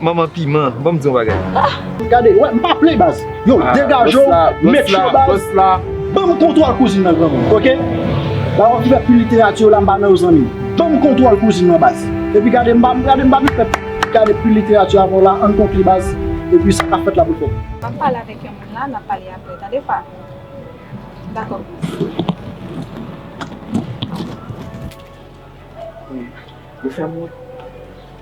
Manman piman banm di yon bagay. Gade wè m pa play baz. Yow degaje w met cho baz Banm kontwòl kouzin nan granmoun ok Baron ki fè pu literati yo la m pa nan yo zanmi m Banm kontwòl kouzin nan baz Epi gade m pa gade m pa vin fè gade pu literati avèw la Ann konkli baz Epi sa kap fèt la pou l fèt. Banm pale avèk yon moun la nap pale aprè tande fa Dakò. Yo fèm wont.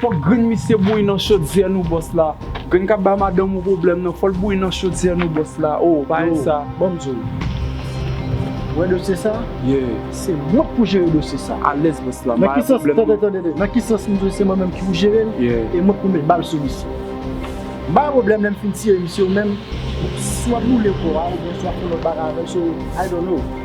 Fòk grenn misye bouyi nan chodyè nou bòs la Grenn kap bay madanm ou pwoblèm nan fòl bouyi nan chodyè nou bòs la oo pa yon sa Yo banm diw Ou wè dosye sa Yeah Se mwen k pou jere dosye sa Alèz bòs la Nan ki sans Tande tande Nan ki sans m diw se mwen menm ki pou jere l Yeah E mwen k pou met bal sou misye M bay pwoblèm lèm fin tire misye ou menm Si wap boule kò a oubyen si wap fè lòt bagay avèl so I don't know.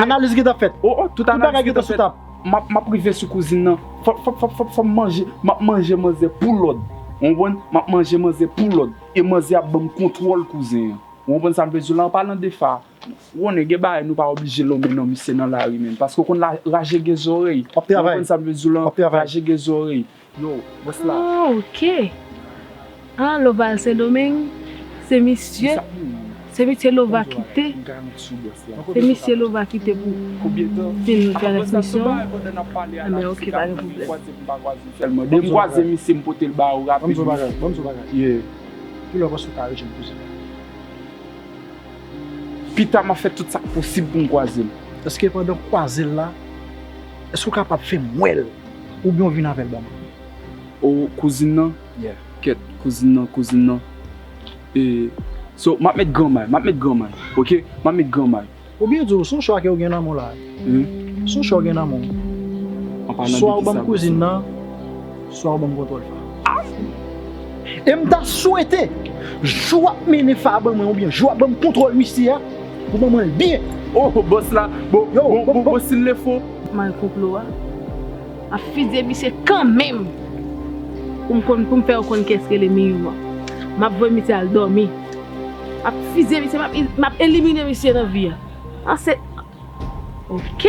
Analiz gentan fèt. O o tout bagay gentan sou tab. Map rive sou kouzin nan. Fòm manje. Map manje manzè pou lòd. Ou konprann? Map manje manzè pou lòd. E manzè ap banm kontwòl kouzen an. Ou konprann sam vle diw la? An palan de fa. Ou konnen gen bagay nou pa oblije lonmen non misye nan lari menn. Paske ou konn lajege zòrèy. Ou konprann sam vle diw la? Lajege zòrèy. Yo, mwen s la. Oh ok ah loval sendomeng se misye se misye lova kite se misye lova kite pou vin transmisyon ah ben ok pa gen problème banmsou bagay banmsou bagay ye kilè w panse w ka rejwenn m kouzen pita map fè tout sak posib poum kwazel eske pandan kwazel la. Eske ou kapab fem wel oubyen ou vin avel ban mwen. Oh kouzin nan? Yeah. Kèt kouzin nan kouzin nan e So map met granmay map met granmay ok map met granmay. Ou byen di w son chwa ke ou gen nan men w la. Son chwa ou gen nan men w. Swa ou banm kouzin nan. Swa ou banm kontwòl fa. Amm! E m ta swete jou wap mennen fa ban mwen oubyen jou wap banm kontwòl misye a ou ban mwen l byen. Oh bòs la bon bon bon sil le fo. Mal konplo a ap fizye misye kanmenm pou m konn pou m fè ou konn kiyès rele Miyou an. Map voye misye al dòmi. Map fizye misye map elimine misye nan vi a. An se ok!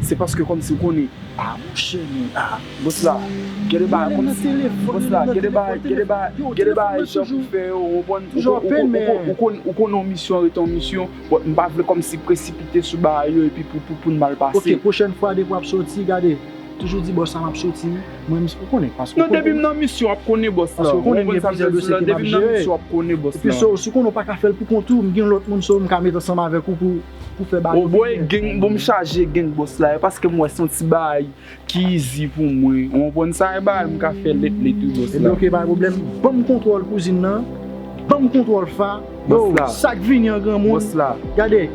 Se paske kòmsi ou konnen ah mon chè men ah boss la gen de bagay kòmsi boss la gen de bagay gen de bagay gen de bagay jan pou fè yo ou konprann ou konn ou konn ou konn yon misyon rete yon misyon but m pa vle kòmsi presipite sou bagay yo epi pou pou poun mal pase. Ok pwochèn fwa depi wap soti gade toujou di boss la map soti wi mwen m ou konnen paske ou konn non depi m nan misyon wap konnen boss la ou konprann sa m vle di w la depi m nan misyon wap konnen boss la epi so si w konnen w paka fè l pou kont ou m gen lòt moun so m ka met ansanm avèk ou pou pou fè bal Oboy limyè gen pou mwen chaje gen boss la e paskem wè son ti baay ki izi pou mwen ou konprann sa e baay mka fè lèt lèt wi boss la. Ebyen ok pa gen pwoblèm banm kontwòl kouzin nan banm kontwòl fa Boss la oh sak vini an granmoun Boss la gade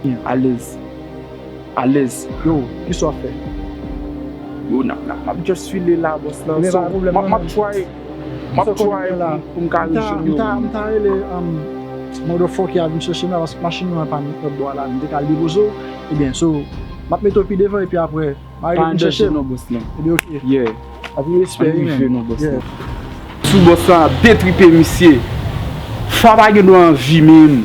Bien alèz alèz yo kisa wap fè Yo nap nap map just file la boss la so map try. Map try pou m ka rejwenn yo wi. M ta rele motherfucker a vin chèche m la paske machin mwen an pa nan lòtbò a la m te ka al depoze w ebyen so map mete w pi devan epi aprè ma rele vin chèche m ebyen ok anpil respè wi menn. Sou boss lan ap detripe misye. Fwa pa gen dwa anvi menm.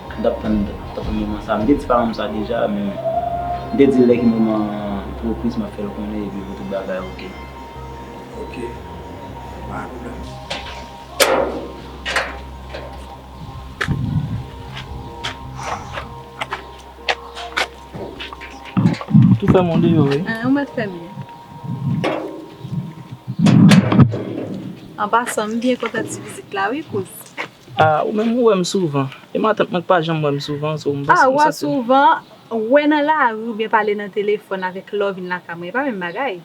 M tap tann tann moman sa. M te di paran m sa deja men m te di lè ki moman pou repriz map fèl konnen epi pou tout bagay ok. Ok pa gen pwoblèm. Tou fèmen w deyò wi. Ou mèt fèmen. An pasan m byen kontan ti vizit la wi kouz. Ah ou menm ou wèm souvan. E matant mwen ki pa janm wèm souvan so m pa Ah wa souvan wè nan lari oubyen pale nan telefòn avèk lè w vin lakay mwen e pa menm bagay.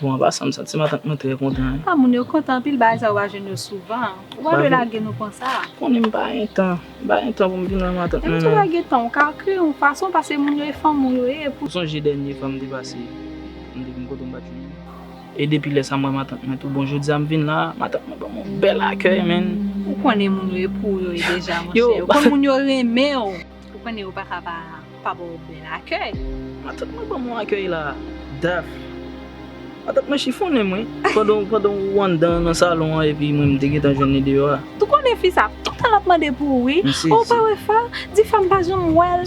Bon apa sa m santi matant mwen trè kontan wi. Ah moun yo kontan anpil bagay sa ou pa jwenn yo souvan. Ou pa dwe lage nou konsa. Konnen m pa gen tan. M pa gen tan pou m vin wè matant mwen non. Menm si w pa gen tan ou ka kreye yon fason pase moun yo e fanmi w yo ye pou. Ou sonje dènye fwa m te pase m te vin kote w m pat jwenn ou. E depi lè sa m wè matant mwen tou bon jodi a m vin la matant mwen ban m yon bèl akèy menn. Ou konnen moun yo e pou ou yo ye deja monchè ou konn moun yo renmen w ou konnen yo paka pa pa ba w bèl akèy. Matant mwen ban m yon akèy la daf. Matant mwen chifonnen mwen pandan ou anndan nan salon an epi mwen m te gentan jwenn li deyò a. Ou konnen fi sa ap toutan ap mande pou ou wi. Ou pa wè fa, di fa m pa janm wè l.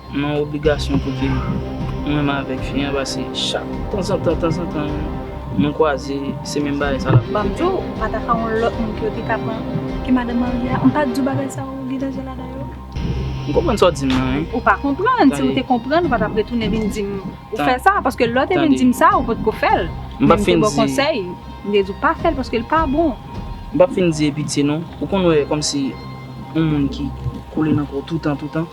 M an obligasyon pou ke m renmen avèk fi an pase chak tanzantan tanzantan nou kwaze se menm bagay sa l ap repete. Bab Djo, ou pa ta ka yon lòt moun ke yo te ka pran ke madan marye a? M pa di w bagay sa yo gen danje ladan yo? M konprann sa w di m nan wi. Ou pa konprann, si w te konprann ou pa t ap retounen vin di m ou fè sa, paske lè w te vin di m sa ou potko fè l, men m te ba w konsèy, m te di w pa fè l paske l pa bon. M p ap fin di e pitye non, ou konn wè kòmsi yon moun ki koule nan kò w toutan toutan.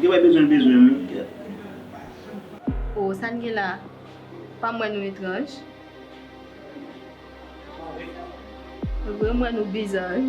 Gen bay bezwen bezwen wi kèt. Oh sa n gen la pa m wè nou etranj. Mwen vre m wè nou biza wi.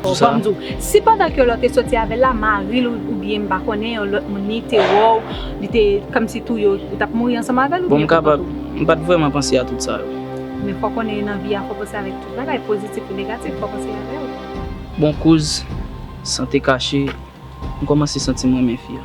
Bon banm diw, si pandan ke lò te soti avèl la, maril ou byen m pa konnen yon lòt moun li te wèw, li te kòmsi tou yo, ou tap mouri ansanm avèl ou byen kontan tou? Bon m kapab, m pat vrèman panse a tout sa yo. Men fò konnen nan vi a fò panse avèk tout bagay, pozitif ou negatif, fò panse avèl. Bon kouz, san te kache, m kòmanse santi m renmen fi a.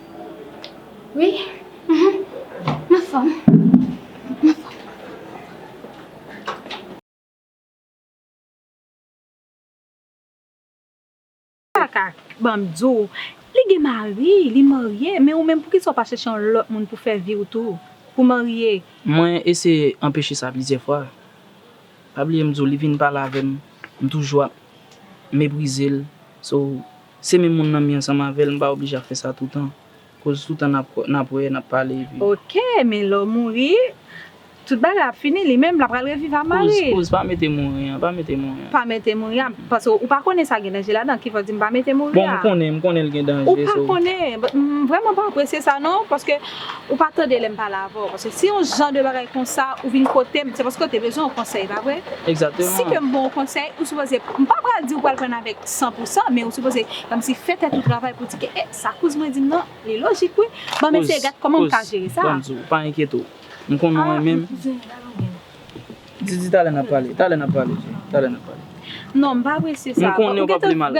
Wi m anfòm m anfòm. Kaka banm di w li gen mari li marye men ou menm poukisa ou pa chèche yon lòt moun pou fè vi w tou pou marye. Mwen eseye anpeche sa plizyè fwa pa bliye m di w li vin pale avè m m toujou ap meprize l so Se menm moun nan mi ansanm avèl m pa oblije ap fè sa toutan koz toutan nap nap wè nap pale epi. Ok men lè w mouri tout bagay ap fini li menm la pral reviv a mari. Kouz kouz pa mete mouri an pa mete mouri an. Pa mete mouri a paske ou pa konnen sa gen danje ladan kifè w di m pa mete mouri a. Bon m konnen m konnen l gen danje so. Ou pa konnen but m vrèman pa apresye sa non paske. Ou pa tande lè m pale avè w, paske si yon jan de bagay konsa ou vin kote m, se paske w te bezwen yon konsèy, pa vre? Egzakteman. Si ke m ban w konsèy, ou sipoze, m pa pral di ou pral pran avèk san pou san, men ou sipoze kòmsi fè tèt ou travay pou di ke, e, sa kouz mwen di m nan, li lojik wi, ban m eseye gad kòman m ka jere sa. Kouz, kouz, ban m di w, pa enkyete w, m konnen ou renmen m. Aa, men kouzen, gade yon grenn. Di, di talè n ap pale, talè n ap pale, talè n ap pale. Non, m pa apresye sa. M konnen ou p ap li mal.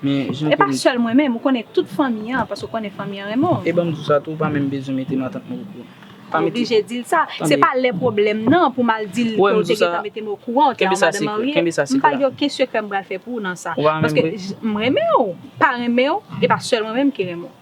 Men jan ke m. E pa sèl mwen menm, ou konnen tout fanmi an, paske ou konnen fanmi an renmen w. E ban m di w sa tou, ou pa menm bezwen mete matant mwen okouran. Ou oblije di l sa. Se pa lè pwoblèm nan pou m al di l ke w te gentan mete m okouran w te yon madanm marye. Kenbe sa sekrè. M pa gen oken sekrè m pral fè pou ou nan sa. Ou pa renmen m vre? Paske m renmen w. Pa renmen w, e pa sèl mwen menm ki renmen w.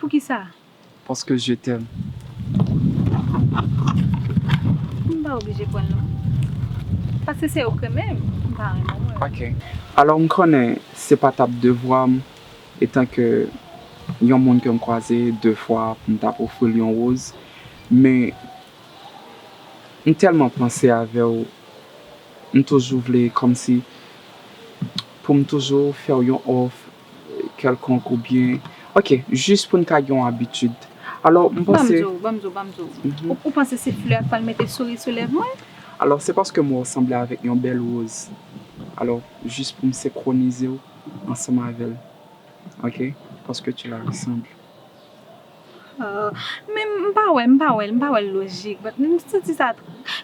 Poukisa? Paske je t'aime. M pa oblije kwè l non. Paske se ok menm m pa renmen mwen. Ok. Alò m konnen se pa tap devwa m. Etan ke yon moun ke m kwaze de fwa pou m tap ofri l yon woz, men m tèlman panse avè w, m toujou vle kòmsi pou m toujou fè w yon òf kèlkonk oubyen ok jis pou n ka gen yon abitid. Alò m panse. Banm di w, banm di w, banm di w. Ou panse se flè a k pral mete souri sou lèv mwen? Alò se paske m wè w sanble avèk yon bèl woz, alò jis pou m senkwonize w. ansanm avèl ok paske tu la ressemble. Aww men m pa wè m pa wè l m pa wè l lojik but m santi sa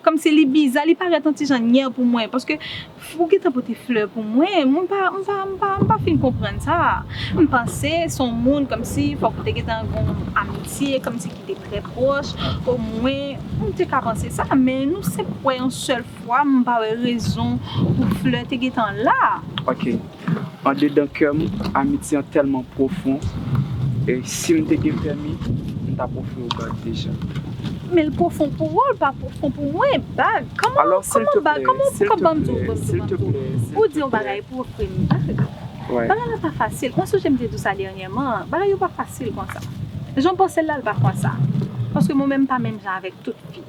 kòmsi li biza li parèt yon ti jan nyè pou mwen paske ou gentan pote flè pou mwen mwen pa m pa m pa m pa fin konprann sa m panse s on moun kòmsi fòk ou te gentan gon amitye kòmsi ki te trè pwòch omwen m te ka panse sa men nou senp wè yon sèl Waww m pa wè rezon pou fleur te gentan la. Ok andedan kè m amitye an tèlman pwofon e si m te gen pèmi m t ap ofri w bag deja. Men l pwofon pou ou l pa pwofon pou mwen bag kòman kòman bag kòman ou ka banm tou banm tou banm tou ou di yon bagay pou ofri m bag bagay la pa fasil mwen sonje m te di w sa dènyèman an bagay yo pa fasil konsa jan w panse l la l pa konsa paske mwen menm m pa menm jan avèk tout fi.